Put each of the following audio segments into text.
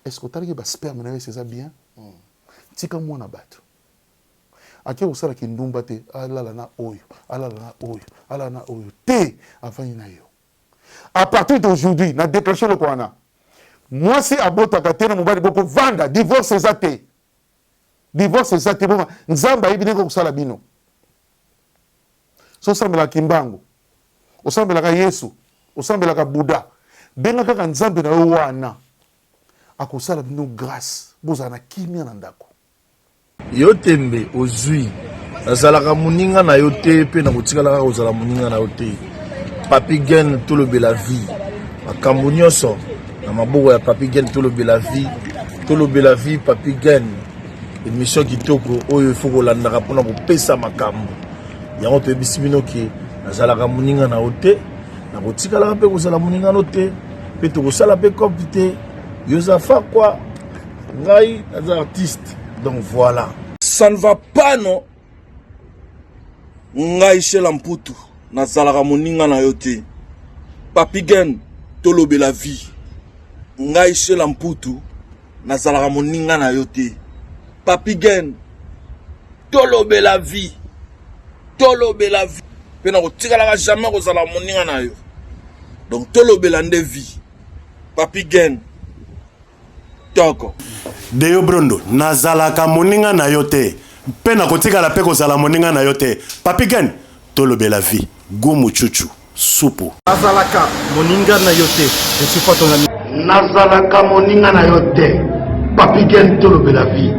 Est ce que otalaki ba sperme na yo esi eza bien? Tika mwana batu ake kosala kindumba te, alala na oyo, alala na oyo, alala na oyo te, avandi na yo. A partir d'aujourd'hui, na declenche loko wana, mwasi abotaka te na mobali, boko vanda, divorce eza te, divorce eza te, boma nzambe ayebi ndenge kosala bino. So osambelaka kimbangu, osambelaka Yesu, osambelaka Bouddha, benga kaka nzambe na yo wana, akosala bino grace bozala na kimia na ndako. Yo tembe ozui, nazalaka moninga na yo te mpe nakotikala kaka kozala moninga na yo te. Papi Gen tolobela vie, makambo nyonso na maboko ya Papi Gen tolobela vie, tolobela vie Papi Gen. Emission kitoko oyo il faut kolandaka mpona kopesa makambo yango toyebisi bino ke nazalaka moninga na yo te nakotikalaka mpe kozala moninga no te mpe tokosala mpe cope te yo oza fakwa ngai naza artiste donc voilà ça ne va pas non ngai shela mputu nazalaka moninga na yo te papigen tolobela vie ngai shela mputu nazalaka moninga na yo te papigen tolobela vie tolobela vie mpe nakotikalaka jamais kozala moninga na yo donc tolobela nde vie papigen toko deyo brondo nazalaka moninga na yo te mpe nakotikala mpe kozala moninga na yo te papi gen tolobela vie gu muchuchu supu nazalaka moninga na yo te je suis pas ton ami nazalaka moninga na yo te papi gen tolobela vie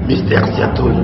mister siatoli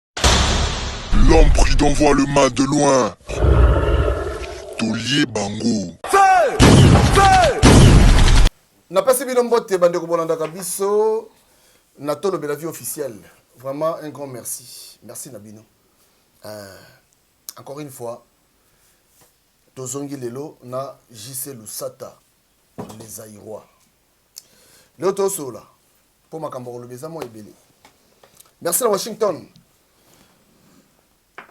L'homme prudent voit le mal de loin. Tolie bango. napesi bino mbote bandeko bolandaka biso na tolobela vie officielle vraiment un grand merci merci na bino euh, encore une fois tozongi lelo na jc lusata les airois leo tosolola mpo makambo koloba eza mwa ebele merci na washington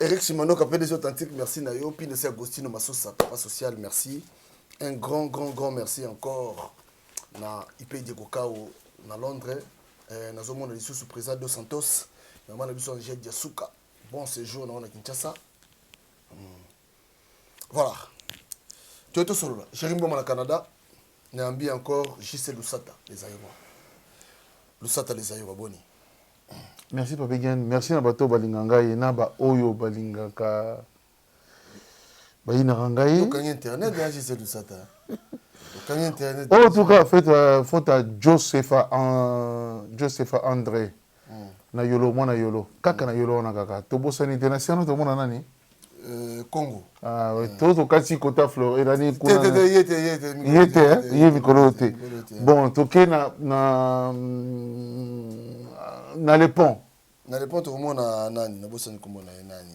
eric simanoka pdg authentique merci na yo pines ya agostino masosa papa social merci un grand grand grand merci encore na ipedi kokao na londres eh, nazomona lisusu président dos santos mama na biso angel diasuka bon séjour na wana kinshasa mm. Voilà. Tu es tout seul. Chéri Mboma na Canada. Nambi encore JC Lusata, les Aïrois. Lusata, les Aïrois, boni. Merci Papa Gen. Merci na bato balinga ngai na ba oyo balingaka bayinaka ngai. Okangi internet ya JC Lusata. Okangi internet. Oh, en tout cas, faites euh, faute à Josepha, euh, Josepha André. na yolo mwana yolo kaka na yolo wana kaka tobosani te na siano tomona nani Euh, Congo. Ah, oui. Mm. Tout au cas, si kota fleur, il a dit quoi? Yete, yete, yete, yete, hein? yete, mikolo te. Bon, toke na na na le pont. Na le pont tokomona nani? Na bosani komona ye nani?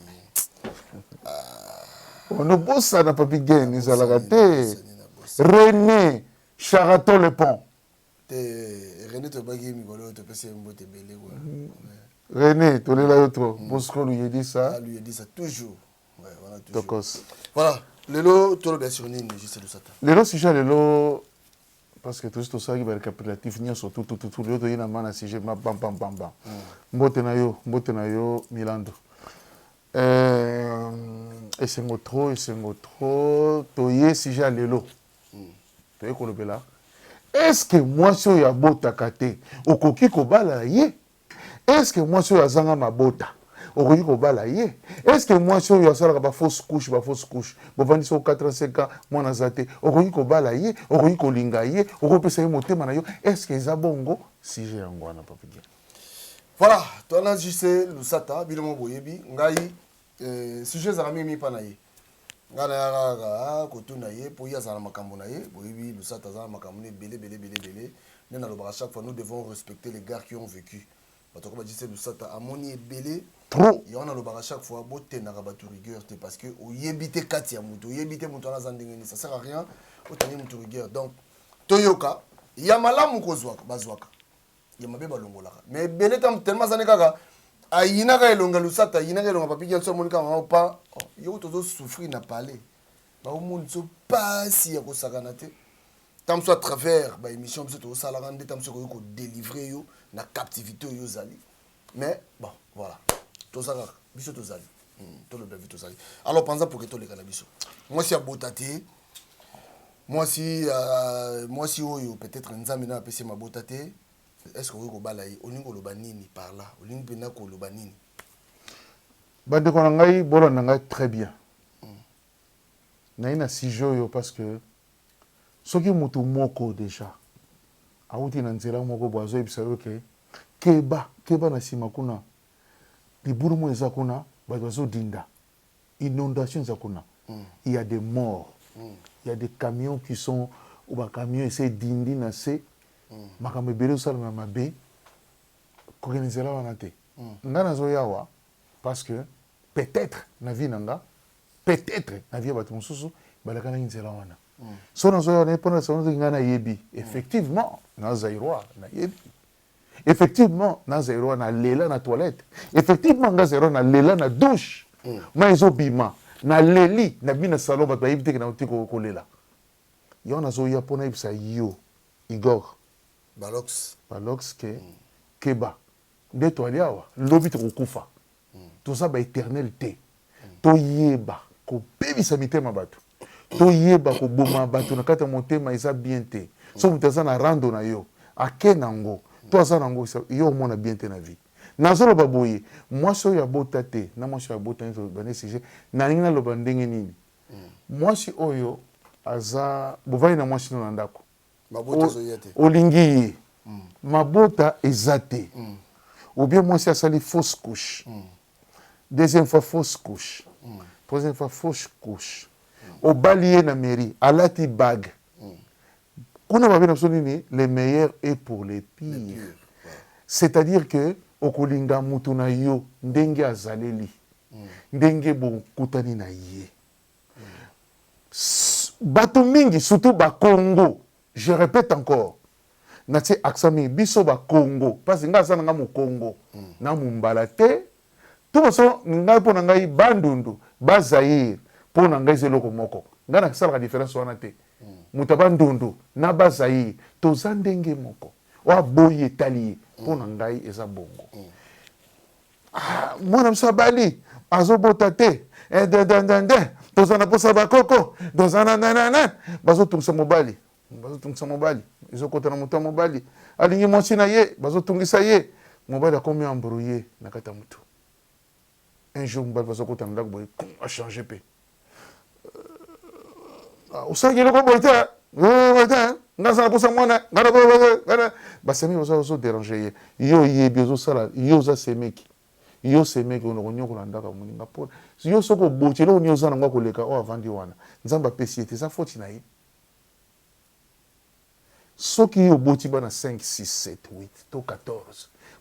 Ah. On ne bossa na papi gain, ezalaka te. René Charaton le pont. Te Rene toyebaki ye mikolo oyo topesi ye mbote ebele kwa. Rene tolela yo trop. Mm. Bosco Luyedisa. Ah, Luyedisa toujours. Ouais, voilà toujours. Tokos. Voilà. Lelo tolobela sur nini juste Lusata. Lelo sujet lelo parce que tosi tosalaki ba récapitulatif nyonso tout tout tout lelo toyei na ma na sujet ma bam bam bam bam. Mm. Mbote na yo, mbote na yo Milando. Euh, esengo trop, esengo trop. Toye sujet lelo. toye kolobela est ce que mwasi oyo abotaka te okoki kobala ye est ce que mwasi oyo azanga mabota okoki kobala ye est ce que mwasi oyo asalaka ba fausse couche ba fausse couche bovandisi o 85 ans mwana aza te okoki kobala ye okoki kolinga ye okopesa ye motema na yo est ce que eza bongo sujet yango wana papidia voilà toana jc lusata bino mo boyebi ngai Eh, sujet ezalaka mingi mingi mpa na ye ngai nayaka kaka ah, kotuna ye mpo ye azala na makambo na ye boyebi lusata aza na makambo na ebele ebele ebele ebele nde nalobaka chaque fois nous devons respecter les gars qui ont vécu bato yako bajise lusata amoni ebele trop yango nalobaka chaque fois botendaka bato rigueur te parce que oyebi te kati ya moto oyebi te moto wana aza ndenge nini ça sert à rien otangi moto rigueur donc toyoka ya malamu kozwaka bazwaka ya mabe balongolaka mais ebele tam tellement azani kaka ayinaka elonga lusata ayinaka elonga papiki yanso amoni kaka mama pa oh, yo tozo souffrir na palais baomoni so pasi ya kosakana te tam so à travers baémission biso tozosalaka nde tam so ekoki kodelivre yo na captivité oyo ozali mais bon voilà toza kaka biso tozali hmm, toloba vi tozali alors panza poke toleka na biso mwasi abota te mwasi euh, mwasi oyo peut-être nzambe nayo apesi mabota te est ce que okoki kobala ye olingi koloba nini par là olingi mpenza koloba nini bandeko na ngai bolanda ngai très bien hmm. naye na sujet oyo parce que Soki mutu moko dejà awuti na nzela moko boye azoyebisa yo ke keba, keba na sima kuna libulu moko eza kuna batu bazodinda, inondation eza kuna, il ya des morts, il ya des camions qui sont ou ba camions esi edindi na se, makambo ebele ezosalema ya mabe, kokende nzela wana te. Nga nazoya awa parce que peut-etre na vie na nga. peut etre na vie ya batu mususu balakanaki nzela wana so nazoya wana mpo na soki ngai nayebi effectivement na zairois nayebi effectivement na zairois na lela na toilette effectivement nga zairois na lela na douche mm. ma ezobima na leli na bina salon bato bayebi teke na tiko kolela yango nazoya mpo nayebisa yo igor balox balox ke mm. keba nde toali awa lobi tokokufa toza ba eternel te toyeba kobebisa mitema batu toyeba koboma batu na kati ya motema eza bien te so moto aza na rando na yo ake na ngo to aza na ngo yo omona bien te na vie nazoloba boye mwasi oyo abota te na mwasi oyo abota nde toloba nde sujet nalingi naloba ndenge nini mwasi oyo aza bovandi na mwasi no na ndako olingi ye mabota eza te ou bien mwasi asali fausse couche deuxième fois fausse couche troisième fois fausse couche obali ye na mairie alati bague kuna babe na biso nini le meilleur est pour le pire c'est-à-dire que okolinga moto na yo ndenge azaleli ndenge bokutani na ye Batu mingi surtout ba kongo je repete encore na tie accent mingi biso ba kongo pasi nga aza na nga mokongo na mumbala te tout façon ngai mpo na ngai bandundu ba zaire mpo na ngai eza eloko moko ngai nasalaka difference wana te moto ya bandundu na ba zaire toza ndenge moko oyo aboyi etali ye mpo na ngai eza bongo Ah, mwana mosusu abali azobota te eh, dededede toza na mposa bakoko toza na nanana bazotungisa mobali bazotungisa mobali ezokota na moto ya mobali alingi mwasi na ye bazotungisa ye mobali akomi embrouye na kati ya motu un jour mobali bazokota na ndako boye achange mpe osalaki eloko boye te boye te nga aza nakosa mwana nga nakoana basemeki oza ozoderange ye yo oyebi ozosala yo oza semeki yo semeki ona konyokola ndako ya moninga mpo yo soki oboti eloko nini oza nango akoleka oyo avandi wana nzambe apesi ye te eza foti na ye soki yo oboti bana 5 6 7 8 to 14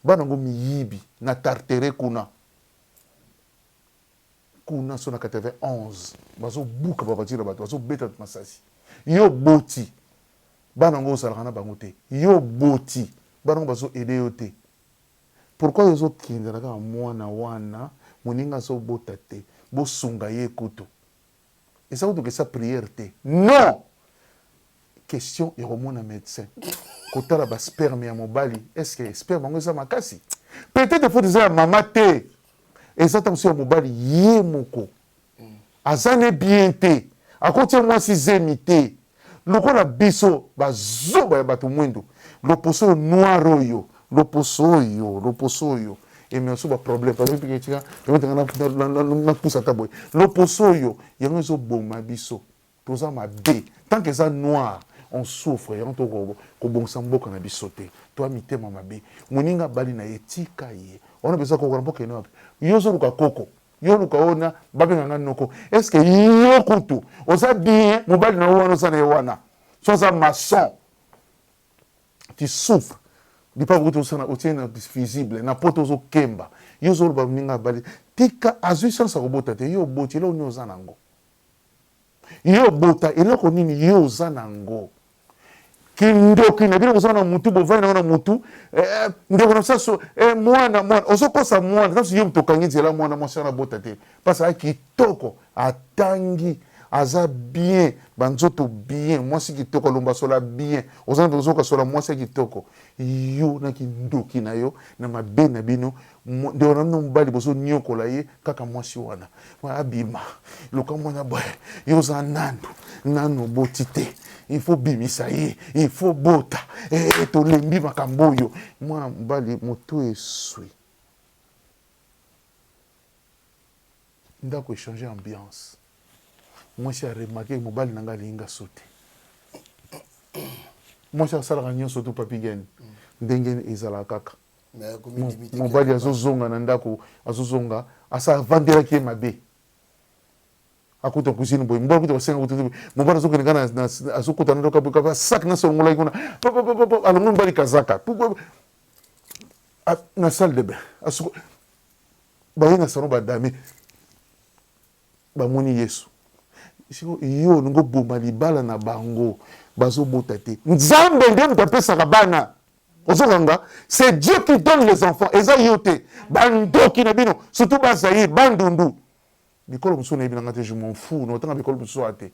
bana yango miyibi na tartere kuna Kuna so na 91 bazo buka ba voiture ya batu bazo beta batu masasi yo oboti bana yango ozalaka na bango te yo oboti bana yango bazo aide yo te pourquoi yo ozo kendela kaka muana wana muninga azo bota te bosunga ye kutu eza ko dokisa prière te non question ya komona medecin kotala ba sperme ya mobali est ce que sperme yango eza makasi peut être faut eza ya mama te eza ntango mosusu ya mobali ye moko aza ne bien te akotia mwasi zemi te Lokola biso ba zoba ya batu muindu loposo oyo noir oyo loposo oyo loposo oyo emema biso ba problème pardon pika tika permettre nga na- na- na- na- napusa ata boye loposo oyo yango ezoboma biso toza mabe tant que eza noir on souffre yango to ko- kobongisa mboka na biso te toa mitema mabe moninga abali na ye tika ye wana mpenza koko na mboka ene wapi yo ozoluka koko Yo luka oyo na babenga nga noko est ce que yo kutu oza bien mobali na yo wana oza na ye wana so aza maçon tu souffre lipaku kutu osana otie na visible na poto ozokemba yo ozoloba moninga abali tika azwi chance akobota te yo oboti eloko nini oza na yango Yo obota eloko nini yo oza na ngo kindoki na bino boza na mutu bovani nango na mutu eh, eh, ndeko na saso eh, mwana mwana ozokosa mwana sasu yo moto okangi nzela mwana mwasi wana bota te mpasi aya kitoko atangi aza bien banzoto bien mwasi kitoko alomba sola bien oza na ozoka sola mwasi ya kitoko yo na kindoki na yo na mabe na bino Ndeko na bino mobali bozo niokola ye kaka mwasi wana abima luka mwana boye yo oza nanu nanu oboti te il faut bimisa ye il faut bota eh, eh tolembi makambo oyo mwana mobali motu eswi ndako echange ambiance mwasi aremake mobali na ngai alingi nga so te mwasi asalaka nyonso tu papigene ndenge ezalaka kaka mobali azozonga na ndako azozonga asa avandelaki ye mabe akuta cuisine boye mobali akuta basenga kutu mobali azokende kaka azokota na ndako boye kaka sac na solongolaki kuna alongoli mobali kazaka na salle de bain baye na salon badame bamoni yesu siko yo olingi oboma libala na bango bazobota te nzambe nde moto apesaka bana ozokanga c'est dieu qui donne les enfants eza yo te bandoki na bino surtout bazaire bandundu bikolo mosusu nayebi na ngai te je m'en fou na otanga bikolo mosusu aa te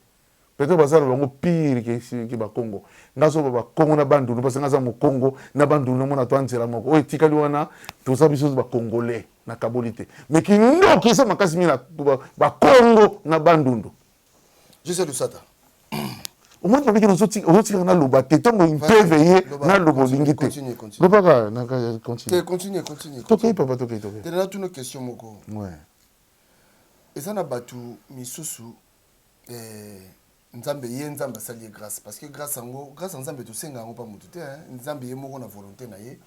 peut-être baza na bango pire ke bakongo ngai azoba bakongo na bandundu parce ngai aza mokongo na bandundu namona to anzela moko oyo etikali wana toza biso bakongolais nakaboli te mais kindoki eza makasi mingi na bakongo na bandundu Jose Lusata. omoni ndenge ozotikaka naloba te ntango impeve ye naloba olingi te lobaka tokei papa tokei tokei natuna question moko eza na bato misusu eh, nzambe ye nzambe asali ye grâce parce que grâce yango grâce ya nzambe tosenga yango mpa motu te nzambe ye moko na volonté na ye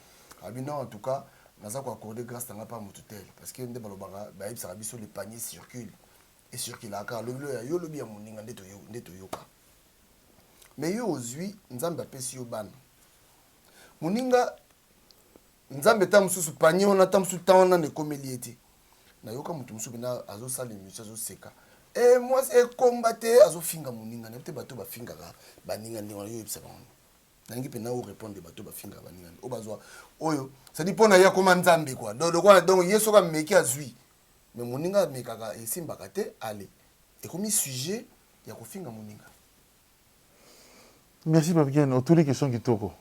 abi non en tout cas naza koaccorde grâce na ngai mpa motu te parce que nde balobaka bayebisaka biso le panier circule e circulaka kaka lobi loya yo lobi ya moninga nde toyo nde toyoka mais yo ozwi nzambe apesi yo bana moninga nzambe ta mosusu panie wana ta mosusu temps wana na ekomeli ye te nayoka moto mosusu mpena azosala emission azoseka e mwasi ekomba te azofinga moninga nayebi te bato bafingaka baninga ndenge wana yo oyebisa bango nangi mpe nao répondre bato bafinga baninga oyo bazwa oyo sadi mpo na ye akoma nzambe kua donc ye soki ameki azwi Mais moninga amekaka esimbaka te ale ekomi sujet ya kofinga moninga. Merci papy gene otuli question kitoko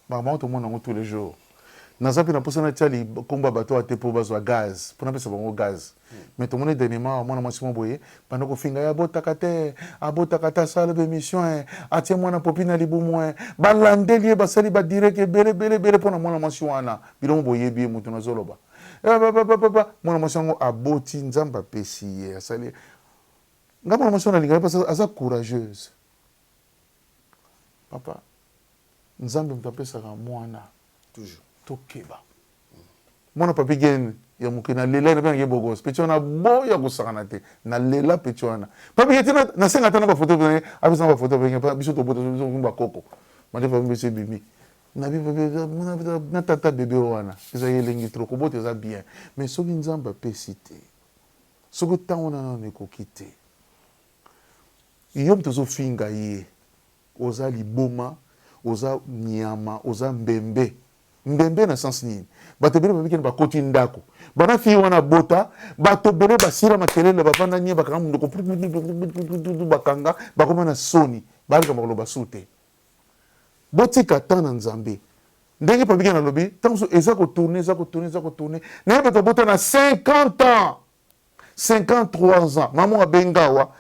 makambo yango tomona yango tous les jours naza mpe na mposa natia likombo ya bato awa te mpo bazwa gaz mpo napesa bango gaz hmm. mais tomoni dernièrement awa mwana mwasi mwa boye banda kofinga ye abotaka te abotaka te asala ba émission eh. atie mwana popi na libumu eh. balandeli ye basali badirect ebele ebele ebele mpo na mwana mwasi wana bilongo boyebi ye moto nazoloba Eh papa papa papa mwana mwasi yango aboti nzambe apesi ye asali nga mwana mwasi wana alingaka parce que aza courageuse papa nzambe moto apesaka mwana toujours tokeba mwana papi gene ya moke na lela ena mpe nake bogos peti wana boya kosakana te na lela peti wana papi gene tina nasenga ata na bafoto na ye apesa na bafoto biso tobota biso bakoko mandefa biso ebimi Na na tata bebe oyo wana eza ya elengi trop kobota eza bien mais soki nzambe apesi te soki tango na nano ekoki te yo moto ozofinga ye oza liboma oza nyama oza mbembe mbembe na sens nini bato ebele babiki na bakoti ndako bana fille wana abota bato ebele basila makelele bavanda nye bakanga monoko bakanga bakoma na soni baleka bakoloba su te Botika temps na nzambe ndenge papi gene alobi tango mosusu eza ko tourne eza ko tourne eza ko tourne naye bato abota na 50 ans 53 ans mama abenga awa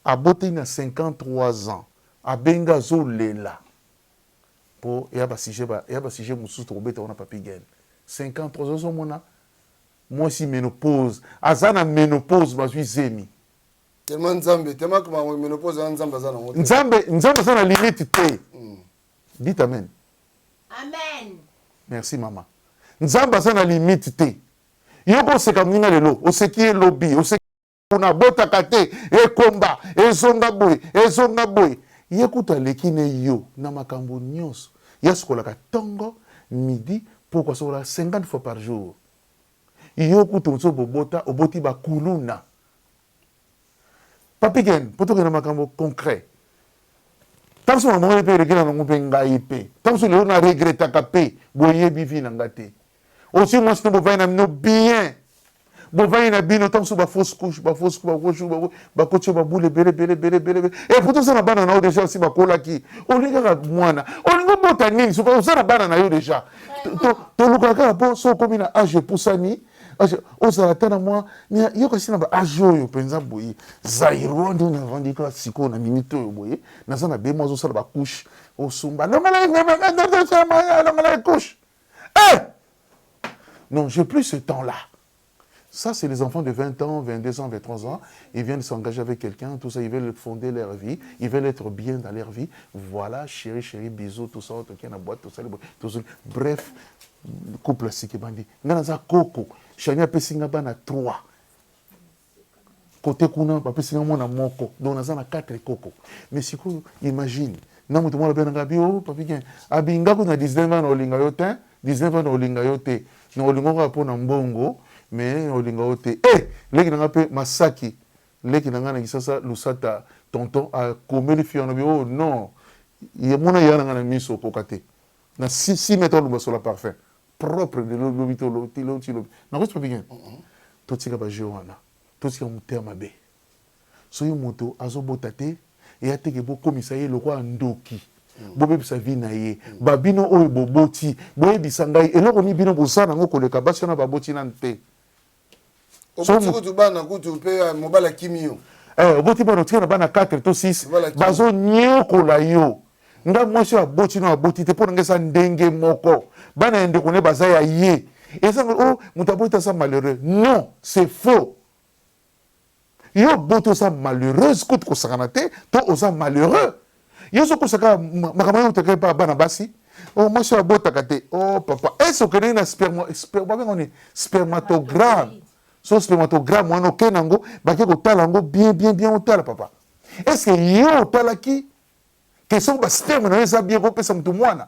aboteli na 53 ans abenga azolela mpo eya basujet eya basujet mosusu tokobeta wana papi gene 53 ans ozomona mwasi menopause aza na menopause bazwi zemi Tellement Nzambe, tellement que ma menopause na Nzambe aza na ngote. Nzambe, Nzambe aza na limite te. Mm. Dites amen. Amen. Merci maman. Nzambe aza na limite te. Yoko oseka muna lelo, oseki ye lobi, oseki kuna botaka te, ekomba, ezonga boye, ezonga boye. Ye kutu aleki ne yo na makambo nyonso. Ye asukolaka tongo, midi, poko asokolaka 50 fois par jour. Yo kutu ozo bobota, oboti ba kuluna. Papi Ken, po tokende na makambo concret, tango mosusu makambo wana pe eregreta nango pe ngai pe, tango mosusu lelo na regretaka pe, boyebi vie na nga te, ozwi mwasi na bovandi na bino bien, bovandi na bino, tango mosusu ba fausse couche, ba fausse ba fausse ba bakoti yo ba boule ebele ebele ebele ebele ebele, et pourtant oza na bana na yo dejà basi bakolaki, olingi kaka mwana, olingi obota nini soki oza na bana na yo dejà, tolukaka kaka po soki okomi na age epusani, Parce que ozala ata na mwa yoka si na ba age oyo mpenza boye zairois nde navandi kaka sikoyo na minute oyo boye naza na bemo azosala bacouche osumba longola couche eh! non j'ai plus ce temps là Ça, c'est les enfants de 20 ans, 22 ans, 23 ans. Ils viennent s'engager avec quelqu'un, tout ça. Ils veulent fonder leur vie. Ils veulent être bien dans leur vie. Voilà, chérie, chérie, bisous, tout ça. Bref, couple, c'est qui bandit. Nga naza koko shani apesi nga bana trois kote kuna bapesi nga mwana moko donc naza na quatre koko mais sikoyo imagine na moto mwana bena nga bi o oh, papigen abi nga kutu na 19 ans na olinga yo te 19 ans na olinga yo te na olinga kaka mpo na mbongo mais na olinga yo te e eh, leki na nga mpe masaki leki na nga na kisasa lusata tonton akomeli fi wana bi o oh, non ye mona ya na nga na miso okoka te Na si si meta oloba sola parfum propre de lo lobi to lo ti lo ti lobi na kosi papi gen to tika ba jeux wana to tika mutema mabe soki moto azo bota te et ateke bo komisa ye lokola ndoki bo bebisa vie na ye ba bino oyo bo boti bo yebisa ngai eloko ni bino boza na ngo koleka basi wana ba boti nanu te oboti kutu bana kutu mpe eh, mobali akimi yo eh, oboti bana otika na bana 4 to 6 bazonyokola yo nga mwasi oyo aboti no aboti te mpo na nga eza ndenge moko bana ya ndeko ne baza ya ye eza o oh, moto aboti aza malheureux non c'est faux Yo bote oza malheureuse kutu kosakana te to oza malheureux. Yo ozokosa kaka makambo yango oteka epa bana basi oh, mwasi oyo abotaka te oh, papa ese okendeki na babenga nini spermatogramme so spermatogramme wana okei na yango bake kotala yango bien bien bien otala papa eske yo otalaki ke soki basperme na yo eza bien kopesa moto mwana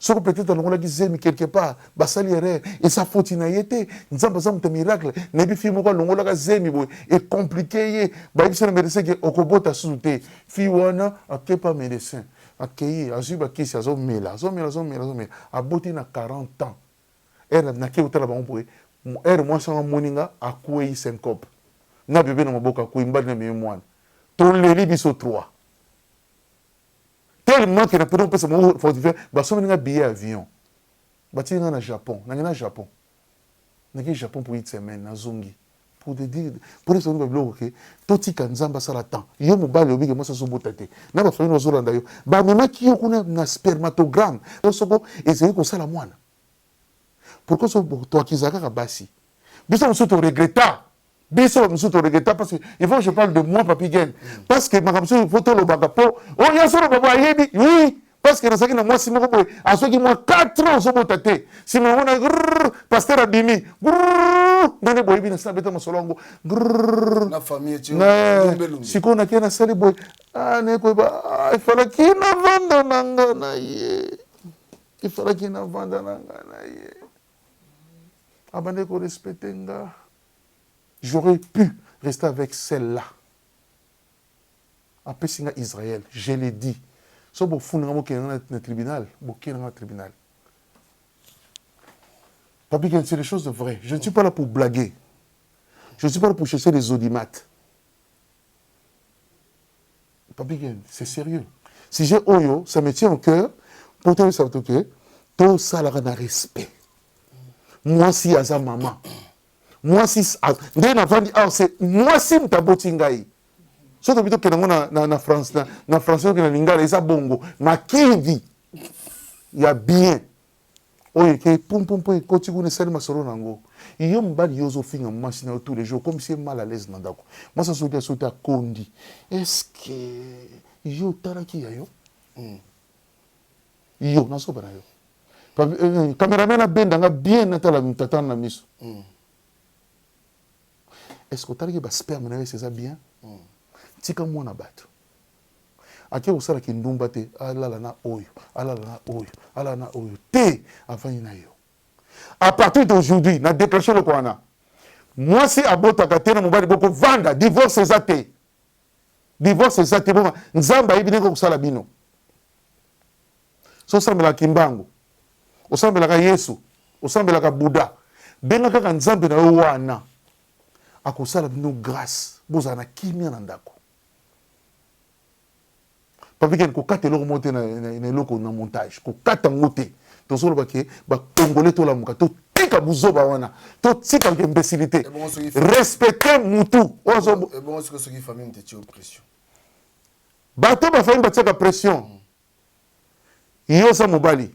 soki peut être alongolaki zemi quelque part basali erreur eza foti na ye te nzambe aza moto ya miracle nayebi fille moko alongolaka zemi boye ecomplike ye bayebisa na medecin ke okobota susu te fille wana akei pa medecin akei azwi bakisi azomela azomela azomela azomela aboti na 40 ans ere nakei kotala bango boye ere mwasi yango amoni nga akwei syncope na bebe na maboko akwei mbali na mimi mwana toleli biso 3 tellement que na poto kopesa bango fortifiant basombeli nga billet avion batiki nga na japon nange na japon naki japon pour une semaine nazongi pour te dire pour te songa biloko ke totika nzambe asala temps yo mobali obike mwasi azobota te na bafamile bazolanda yo bamemaki yo kuna na spermatogramme to soko ezali kosala mwana pourkoi so toakizaka kaka basi biso mosusu toregreta biso ba mosusu toregreta parce que il faut je parle de moi papi gen mm. parce que makambo mosusu po tolobaka po oyo oh, nyonso oloba bo ayebi oui parce que nazalaki na mwasi moko boye azwaki mwa 4 ans ozobota te nsima yango na paster abimi ndenge boyebi na sina beta masolo yango sikoyo nakie nasali boye ah, naye koyeba ah, efalaki navanda na nga na ye efalaki navanda na nga na ye abandaki korespecte nga J'aurais pu rester avec celle là apesi nga Israël je le dit soki bofuni nga bokende nga na tribunal boke nanga na tribunal Papy Gene c'est des choses vraies je ne suis pas là pour blaguer je ne suis pas là pour chercher des audimates Papi Ken, c'est sérieux. Sujet oyo, ça me tient au cœur. Pour te dire que tout ça là na respect. Moi si aza maman. Moi si nde na vandi ah c'est moi si mtaboti ngai. Soki tobito kena ngo na na na France na na français na lingala eza bongo. Makidi ya bien. Oyo ekeyi pum pum pum ekoti kuna esali masolo na yango. Yo mobali yo ozo finga muasi nayo tous les jours okomisi ye mal à l'aise na ndaku. Muasi azo lia soki te akondi est-ce que yo otalaki ya yo? Hum yo na zoba nayo. Cameraman abenda nga bien natala mutatana na misu. Est-ce que otalaki ba sperme nayo est-ce que eza bien? Tika muana batu. Ake kosala kindumba te alala na oyo alala na oyo alala na oyo te avandi na yo à partir d'aujourd'hui na déclenche eloko wana mwasi abotaka te na mobali bokovanda divorce eza te divorce eza te boma nzambe ayebi ndenge kosala bino so osambelaka kimbangu osambelaka yesu osambelaka buda benga kaka nzambe na yo wana akosala bino grâce bozala na kimia na ndako Papi Ken kokata eloko moko te na, na, na eloko na montage kokata ngo te tozoloba ke bakongole tolamuka totika buzoba wana totika ke imbecilité respecte mutu bato bafamille batiaka pression yo oza mobali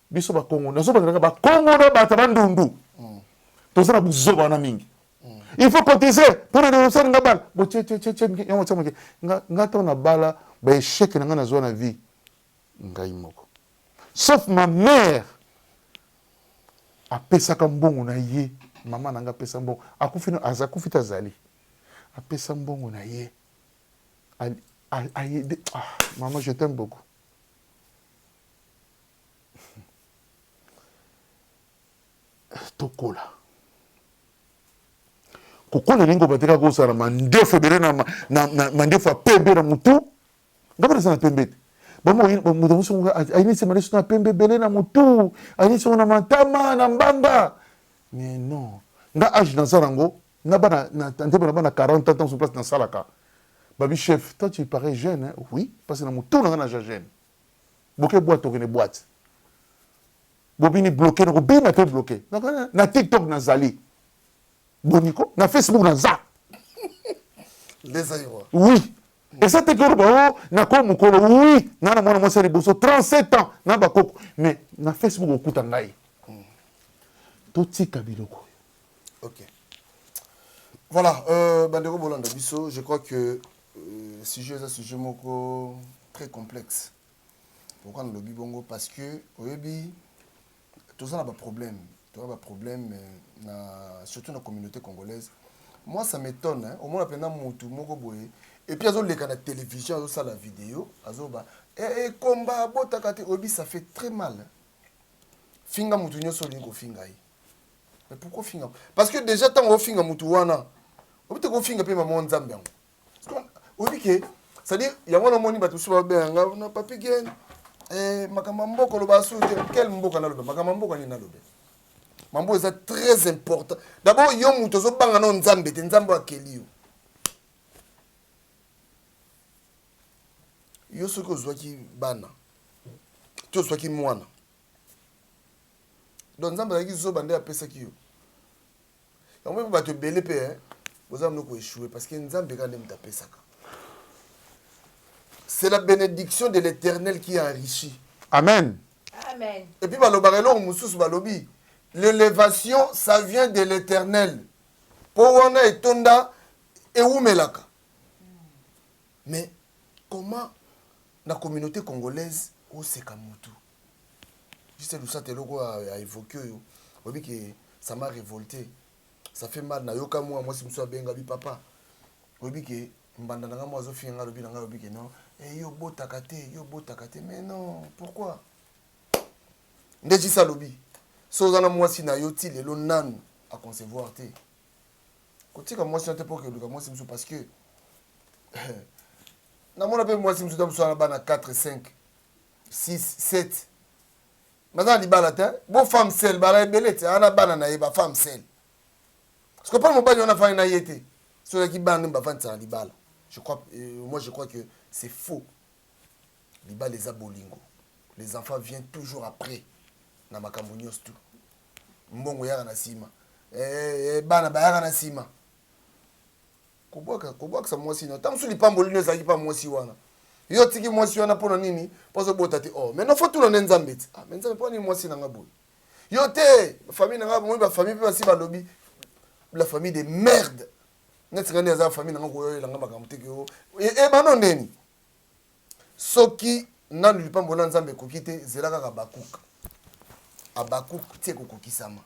biso bakongo nazo bandelaka bakongo na bata bandundu mm. toza na buzoba wana mingi mm. il faut cotiser mpo na denosani nga bala bocececece yango tia moke nga ntango na bala baecheke na ngai nazwa na vie ngai moko sauf ma mère apesaka mbongo na ye mama na ngai apesa mbongo akufi akufi te azali apesa mbongo na ye ayede ah, mama je t'aime beaucoup tokola kokola elingi kobatika kozala mandefu ebele na mandefu ya pembe na motu ngai naza na pembe te bamoto mosu ayinisi mandefu na pembe ebele na motu ayinisi yango na matama na mbanga mais non nga age naza nango na bana ntembe na bana 40 ans ntango place nasalaka babi chef toi tu parais jeune hein? oui parce na motu na ngai naza jeune boke boite tokende boite bobini bloke nakobina mpe bloke na tiktok nazali boniko na facebook naza oui eza te koloba o oh, nako mokolo oui ngai na mwana mwasi ya liboso 37 ans na bakoko mais na facebook okuta ngai hmm. totika biloko oyo okay. voilà euh, bandeko bolanda biso je crois que Euh, sujet eza sujet moko très complexe pourquoi nalobi bongo parce que oyebi toza na baproblème toza baproblème euh, na surtout na communauté congolaise moi ça m'étonne hein? omona mpenza motu moko boye epuis azoleka na télévision azosala video azoba ekomba eh, eh, abotaka te oyebi ça fait très mal finga motu nyonso olingi kofinga ye Mais pourquoi finga Parce que déjà tant ofinga mutu wana. Obite ko finga pe maman Nzambe yango. Parce que obi ke c'est-à-dire yango na moni batu suba be nga na papi gen eh makamba mboko lo ba sute quel mboka na lo makamba mboko ni na lo be. Mambo eza très important. D'abord yo mutu ozo banga na Nzambe te Nzambe akeli yo. Yo soki ozwaki bana to ozwaki mwana donc nzambe azalaki zoba nde apesaki yo yango mpe bato ebele mpe eh, boza mino koechoue parce que nzambe kaka nde moto apesaka c'est la bénédiction de l'éternel qui enrichit amen amen et puis balobaka eloko mosusu balobi l'élévation ça vient de l'éternel mpo wana etonda ewumelaka mais comment na communauté congolaise oseka motu Juste Lusata eloko a evoquer oyo oyebi ke ça m'a révolté. Ça fait mal na yoka mwa mwasi mosusu abenga bi papa. Oyebi ke mbanda na nga mwa azo finga nga lobi na nga lobi ke non. Eh yo botaka te, yo botaka te. Mais non, pourquoi? Nde jisa lobi. So oza na mwasi na yo ti lelo nanu a concevoir te. Kotika mwasi na te po ke luka mwasi mosusu parce que namona mpe mwasi mosusu ta mosusu wana bana 4 5 6 7 baza na libala te bo femme sel bala ebele te ana bana na ye ba femme sel parce que pona mobali wana afandi na ye te soki azalaki bana nde bafandisa na libala je crois euh, moi je crois que c'est faux libala eza bolingo les enfants viennent toujours après na makambo nyonso tu mbongo eyaka na nsima eh, eh, bana bayaka na nsima kobwaka kobwakisa mwasi na ntango mosusu lipamboli no ezalaki mpa mwasi wana yo otiki mwasi wana mpo na nini mpo azobota te oh maintenant fo tuna nde nzambe ti ah, me nzambe mpo nini mwasi na nga boye yo te famille na nga bomoi bafamille mpe basi balobi la famille de merde neti nga nde aza famille na nga koyoyela nga makambo te keo ebano e, ndeni soki nanu lipambo na nzambe ekoki te zela kaka bakuka abakuku ti ekokokisama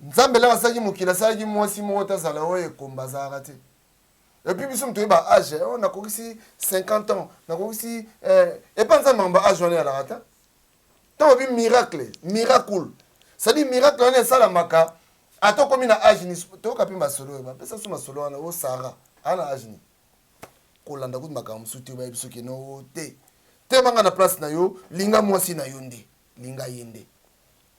nzambe elaka asalaki mokili asalaki mwasi moko te azala oyo ekomba azalaka te epuis biso moto oyeba age eh, oyo nakokisi 50 ans nakokisi eh, epa nzambe makambo age wana eyalaka ta ntango obi miracle miracle sadi miracle wana esalamaka ata okomi na age ni toyoka mpe masolo oyo bapesa so masolo wana o sara aa na age ni kolanda kutu makambo mosusu te obayebi soki no te te banga na place na yo linga mwasi na yo nde linga ye nde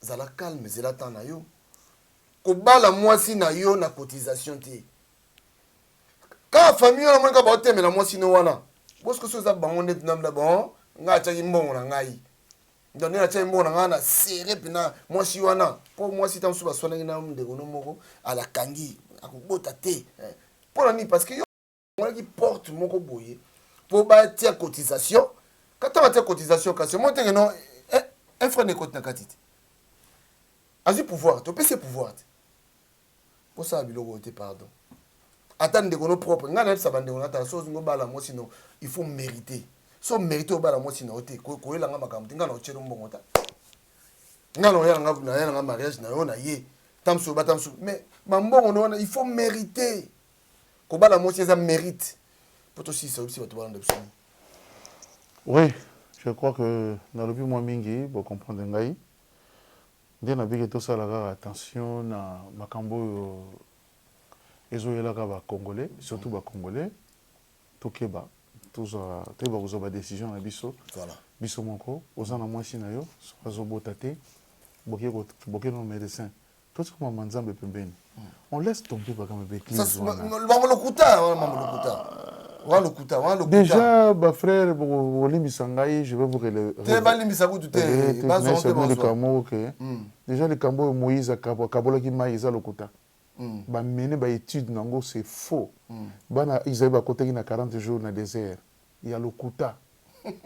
Zala calme zela temps na yo. Kobala mwasi na yo na cotisation te. Kaka famille wana moni kaka baotemela mwasi no wana. Bosco so eza bango nde tunamda bon ngai atiaki mbongo na ngai. Donc nde natiaki mbongo na ngai na serre mpena mwasi wana mpo mwasi ntango mosusu baswanaki na ndeko no moko alakangi akobota te mpo na nini parce que Bafungolaki porte moko boye mpo batia cotisation. Kata batia cotisation kasi omoni teke no eh, un franc ekoti na kati te. Azwi pouvoir te, opesi ye pouvoir te. Bosala biloko oyo te, pardon. Ata ndeko no propre, ngai nayebisa bandeko natala so ozingi obala mwasi no, il faut meriter. So merite obala mwasi na yo te, koyela ngai makambo te, ngai na otyelo mbongo ta. Ngai na oyela ngai na yela ngai mariage na yo na ye. Tamsu obata msu, mais bambongo no wana il faut meriter. kobala mwasi eza merite po tosilisa oyebisi bato balanda biso nini oui je crois que nalobi mwa mingi bocomprendre ngai nde nabiki tosala kaka attention na makambo oyo ezoyelaka bacongolais surtout bacongolais tokeba tozwa toyeba kozwa badecision na biso voilà biso moko oza na mwasi na yo soki azobota te boke no médecin Tosi koma ma nzambe pembeni. On laisse tomber ba kama bêtise wana. Bango lokuta, wana bango lokuta. Wana lokuta, wana lokuta. Déjà ba frères boko limbisa ngai, je vais vous relever. Te ba limbisa kutu te, ba zo te ba zo. Moko ke. Déjà likambo oyo Moïse akabolaki mai eza lokuta. Mm. Ba mener ba études nango c'est faux. Mm. Bana Israël ba kotaki na 40 jours na désert. Ya lokuta.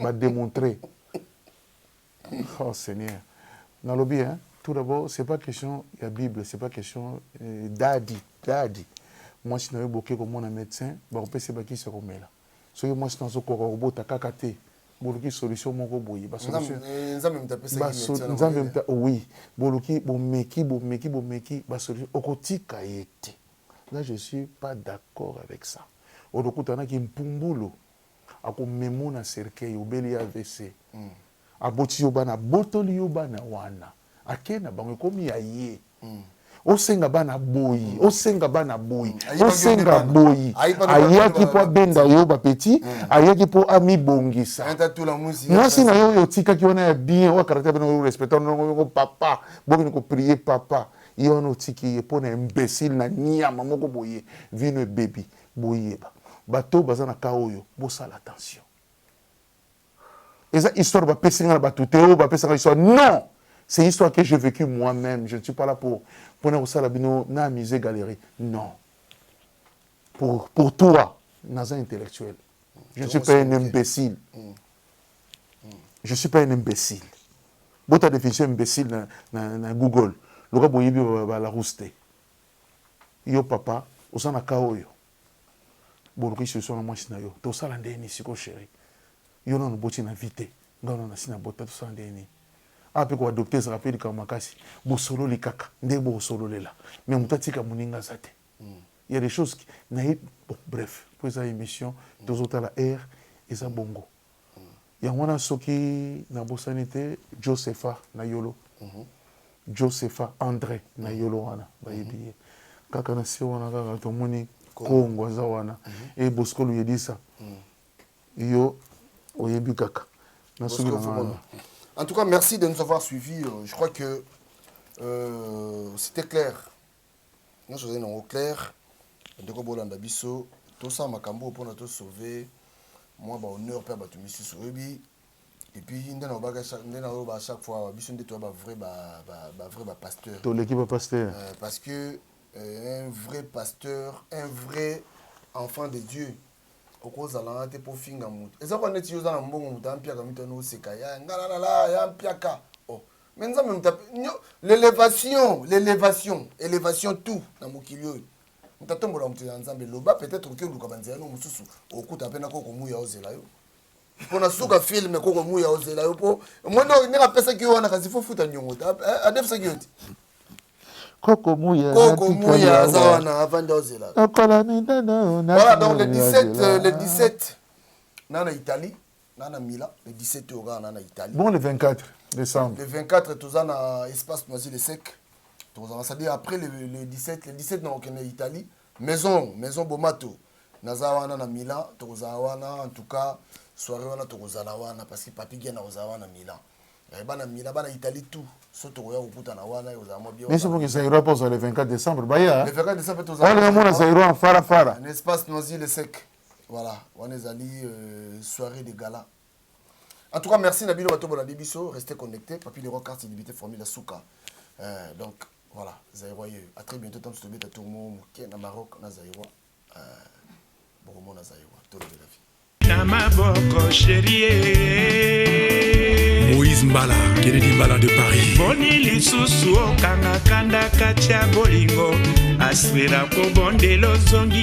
Ba démontrer. Oh seigneur nalobi hein tout d'abord c'est pas question ya bible c'est pas question euh, dadi dadi mwasi na yo boke komona médecin bakopesa ye bakisi ya komela soki mwasi na azokoka kobota kaka te boluki solution moko boye ba Nzambe solution eh, Nzambe moto apesaki ba so- Etienne nzambe Mabele. mta oui boluki bomeki bomeki bomeki ba solution okotika ye te là je suis pas d'accord avec ça olokutanaki mpumbulu ako memo na cercueil obeli avc aboti yo bana abotoli yo bana wana ake na bango ekomi ya ye osenga bana boyi osenga bana boyi hmm. osenga boyi ayaki po abenda yo ba petit hmm. ayaki po amibongisa mwasi na yo oyo otikaki wana ya bien oyo caractère bino oyo respectant ndongo papa bokende ko prier papa ye wana otiki ye po na imbécile na niama moko boye vino ebebi Boyeba bato oyo baza na cas oyo bosala attention eza histoire ba pesi nga na bato te oyo ba pesa nga histoire non c'est histoire que j'ai vécu moi même je ne suis pas là pour pona kosala bino na amuser galerie non pour pour toi naza intellectuel je ne suis pas un imbécile mm. je suis pas un imbécile bota définition imbécile na, na, na google loka boyebi balarousse te Yo papa oza na cas oyo boluki solution na muasi na yo tosala ndenge nini sikoyo cherie yo nanu oboti na vie te ngai nanu nasi na bota tosala ndenge nini awa pe ko adopte ezalaka pe likambo makasi bosololi kaka ndenge boko sololela mais mutu atika muninga aza te il ya des choses qui nayebi bon bref po eza emission tozo tala heure eza bongo. Yango wana soki na bosani te Josepha na yolo Josepha Andre na yolo wana bayebi ye kaka na se wana kaka tomoni Kongo aza wana e Bosco Luyedisa yo oyebi kaka na soki na wana En tout cas merci de nous avoir suivi euh, je crois que euh, c'était clair nionso ozali nango clair ndeko bolanda biso tosala makambo oyo mpona to sauve mwa ba honneur mpe ya bato misusu oyebi epuis nde nalobaka nde naloba chaque fois awa biso nde toya ba vrai ba, ba, ba vrai ba pasteur toleki ba pasteur euh, parce que euh, un vrai pasteur un vrai enfant de dieu okozala wana te mpo ofinga moto eza kwa neti yo oza na mbongo moto ampiaka mitano oseka ya ngalalala ya mpiaka mais nzambe moto l'elevation l'elevation elevation tout na mokili oyo moto atombola moto ya nzambe loba peut-être okoki oluka banzela no mosusu okuta mpe nako komuya ozela yo mpo na suka filme koko muya ozela yo mpo omoni oyo ndenge apesaki yo wana kasi fofuta niongo te adefisaki yo te koko muya koko muya aza wana avandi ozela okola minene voilà donc le 17 le 17 na na italie nga na mila le 17 oyo kaka na na italie bon le 24 décembre le 24 toza na espace noisy le sec tokozala c'est à dire après le, le 17 le 17 na kokende italie maison maison bomato naza wana na milan tokozala wana en tout cas soirée wana tokozala wana parce que papi gena kozala wana na milan eh, bana milan bana italie tout so tokoya kokutana wana ekozala mwa bien biso boki zairo mpo ozala le 24 décembre baya le 24 décembre tozaolinga mona zairo en farafara na espace noisy le sec Voilà, wana ezali euh, soirée de gala. En tout cas, merci na bino bato bolandi biso, restez connectés. Papi Leroy carte d'identité formule suka. Euh, donc voilà, Zaïrois yeux. À très bientôt tant que tu tour mon moké na Maroc na Zaïrois. Euh, bon na Zaïrois, tout le de la vie. Na maboko chérie. Moïse Mbala, Kennedy Mbala de Paris. Boni lisusu okanga kanda katia bolingo aswela kobondela ozongi